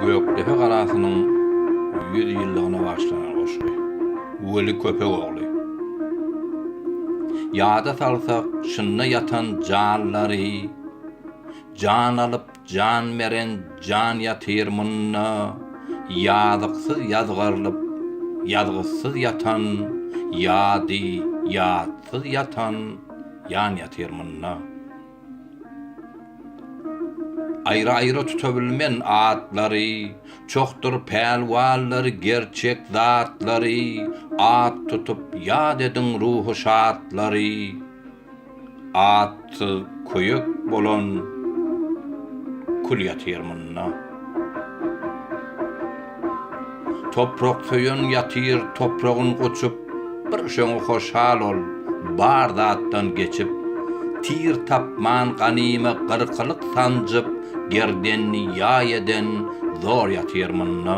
Gökdepe galasynyň ýüz ýyllygyna bagyşlanan goşgy. Weli Köpegogly. Ýada salsak, şynda ýatan janlary, jan alyp, Jan beren jan ýatyr munda, Ýazyksyz ýazgarylyp, ýazgysyz ýatan, Ýady, ýatsyz ýatan jan ýatyr munda. Aýry-aýry tutabilmen atlary, Çohdur pälwanlary gerçek zatlary, At tutup ýat ediň ruhy şatlary. Atsyz köýük bolan kül ýatyr munda. Toprak söýen ýatyr topragyn goçup bir şoňa hoşal ol bar zatdan geçip tir tapman ganymy gyrkylyk sanjyp gerdenini ýaý eden zor ýatyr munda.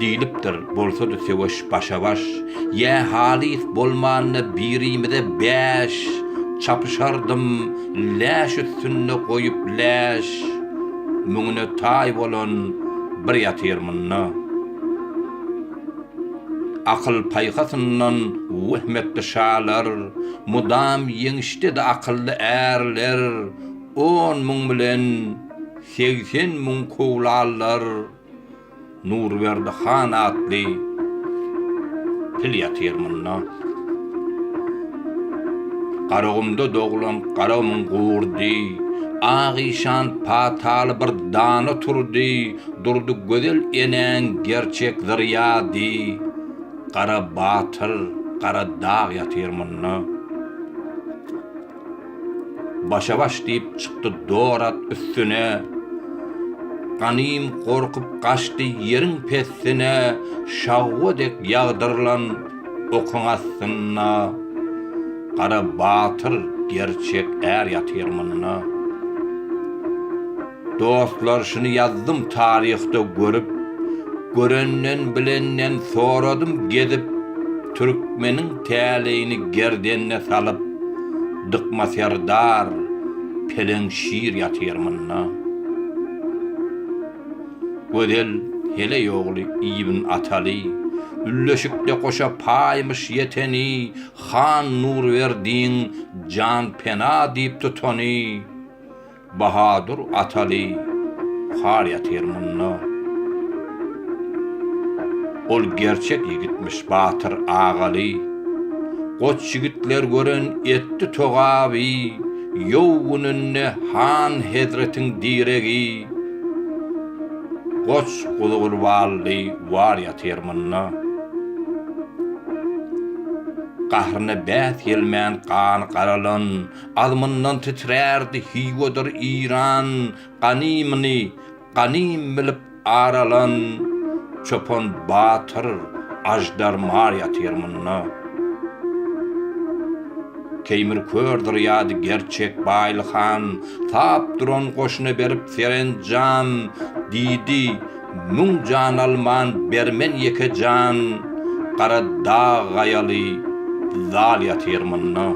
Diýlipdir, bolsady söweş başa-baş, Ýa halys bolmanda birimize bäş, Çapyşardym läş üstünde goýup läş, Müňüne taý bolan bir ýatyr munda. Akyl-paýhasyndan wehm etdi şalar, Mydam ýeňişdedi akylly ärler, On müň bilen segsen müň kowlalar. Nurberdi han atly pil ýatyr munda. Garagumda doglan Garagumyň gurdy, Ak işan pataly bir dana turdy, Durdy gözel enäň gerçek zyrýady, Gara batyr, gara dag ýatyr munda. Başa-baş diýip çykdy Dorat üstüne, Ganym gorkup gaçdy ýeriň pessine, Şawwa dek ýagdyrylan okuň astynda, Gara batyr, gerçek är ýatyr munda. Dostlar şuny ýazdym taryhda görüp Görenden bilenden soradym gezip Türkmeniň täleýini gerdenne salyp Dykma serdar peleň şir ýatyr munda Gözel Heleý ogly Ibn Ataly Ülleşikde goşa paýmyş ýeteni Han Nurberdiň jan pena diýip tutany. Bahadur Ataly buhar ýatyr munda. Ol gerçek ýigitmiş Batyr Agaly. Goç ýigitler gören etdi togaby, Ýow gününde han hezretiň diregi. Goç Guzugurbally war ýatyr munda. Gahryna bäs gelmän gany garalan, Alymyndan titrärdi Hiwadyr Iran ganymyny ganym bilip ar alan Çopan batyr Aždar mar ýatyr munda. Teýmir kördür ýady gerçek Baýly han Sap duran goşuna berip serenjam Diýdi Müň jan alman bermen ýeke jan Gara dag gaýaly zal ýatyr munda.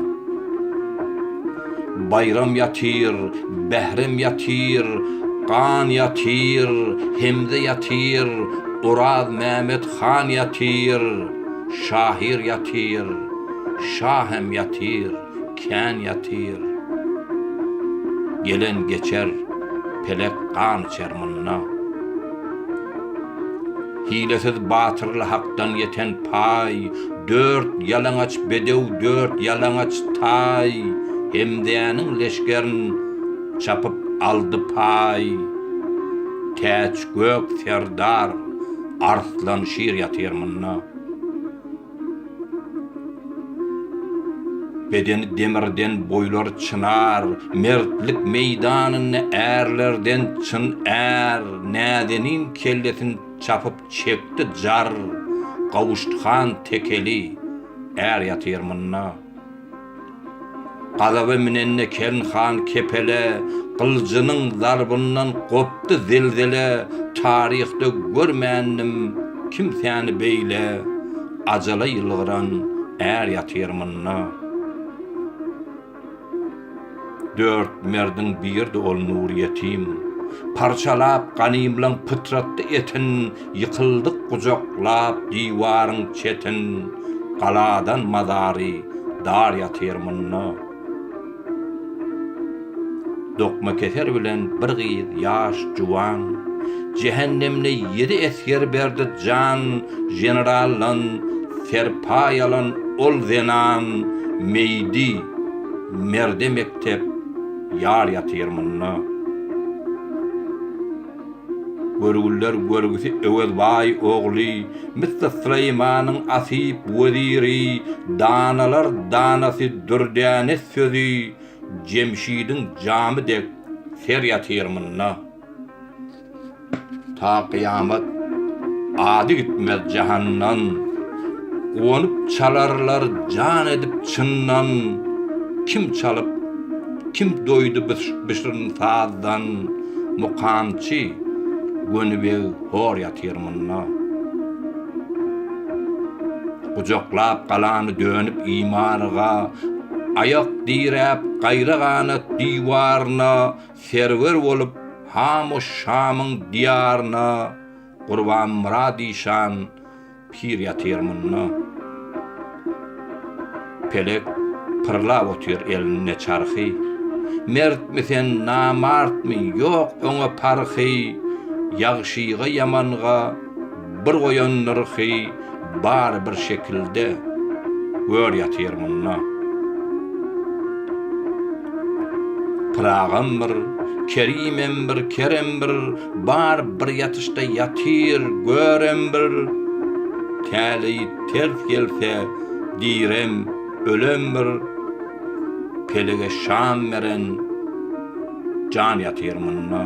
Baýram ýatyr, Bährem ýatyr, Gan ýatyr, Hemze ýatyr, Oraz Mämet han ýatyr, Şahyr ýatyr, Şa hem ýatyr, kän ýatyr. Gelen geçer, pelek gan içer munda. Hilesiz batyrly hakdan ýeten paý, Dört ýalaňaç bedew, dört ýalaňaç taý, Hemzäniň leşgerin çapyp aldy paý. Täç gök serdar Arslan şir ýatyr munda. Bedeni demirden boýlar çynar, Mertlik meýdanynda ärlerden çyn är Näzenin kellesin çapyp çekdi jar, Gawuşdy han tekeli, är ýatyr munda. Gazaba minende Kern han kepele, Gyljynyň zarbyndan gopdy zelzele, Taryhda görmändim kimsäni beýle, Ajala ýylgyran är ýatyr munda. Dört merdiň biridi ol Nurýetim, Parçalap ganymlaň pytratdy etin, Ýykyldyk gujaklap diwaryň çetin, Galadan mazary dar ýatyr munda. Dokmakeser bilen bir gyz ýaş juwan, Jähennemde ýedi esger berdi jan, Generaldan serpa ýalan ol zenan, Meýdi, merde mekdep ýar ýatyr munda. Görgüller görgüsi Öwezbaý ogly Mr. Süleýmanyň asyp weziri, danalar danasy Dürdäne sözi Jemşidiň jamy dek ser ýatyr munda. Ta kyýamat ady gitmez jahandan, Guwanyp çalarlar jan edip çyndan, Kim çalyp, kim doýdy bu şirin sazdan. Mukamçy Gönübeg hor ýatyr munda. Gujaklap galany dönüp imaryga, Aýak diräp gaýra-ganat diwaryna, Serwer bolup hamoş Şamyň diýaryna, Gurbanmyrad işan Pir ýatyr munda. Pelek pyrlap otyr elinde çarhy. Mertmi sen, namartmy, ýok oňa parhy. Ýagşyga, ýamanga bir goýan nyrhy. Bary bir şekilde, gör ýatyr munda. Pyragam bir, kerimem bir, kerem bir. Bar bir ýatyşda ýatyr, görem bir, Täleý ters gelse, direm, ölem bir, Pelege şan beren jan ýatyr munda.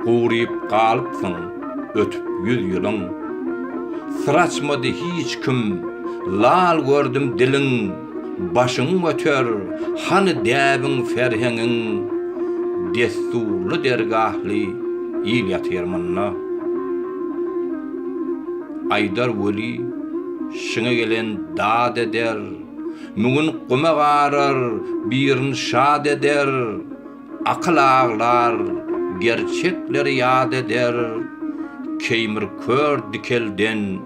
Guryp galypsyň, ötüp ýüz ýylyň, Syr açmady hiç kim, lal gördüm diliň. Başyň göter, hany däbiň serheňiň, Dessurly dergahly il ýatyr munda. Aýdar weli, şiňe gelen dad eder, Müňin guma garar, birin şad eder. Akyl aglar, gerçekleri ýat eder, Keýmir kör dikelden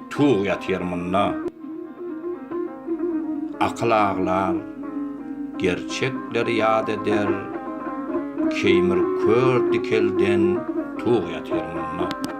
tug ýatyr munda. Akyl aglar, gerçekleri ýat eder, Keýmir kör dikelden tug ýatyr munda.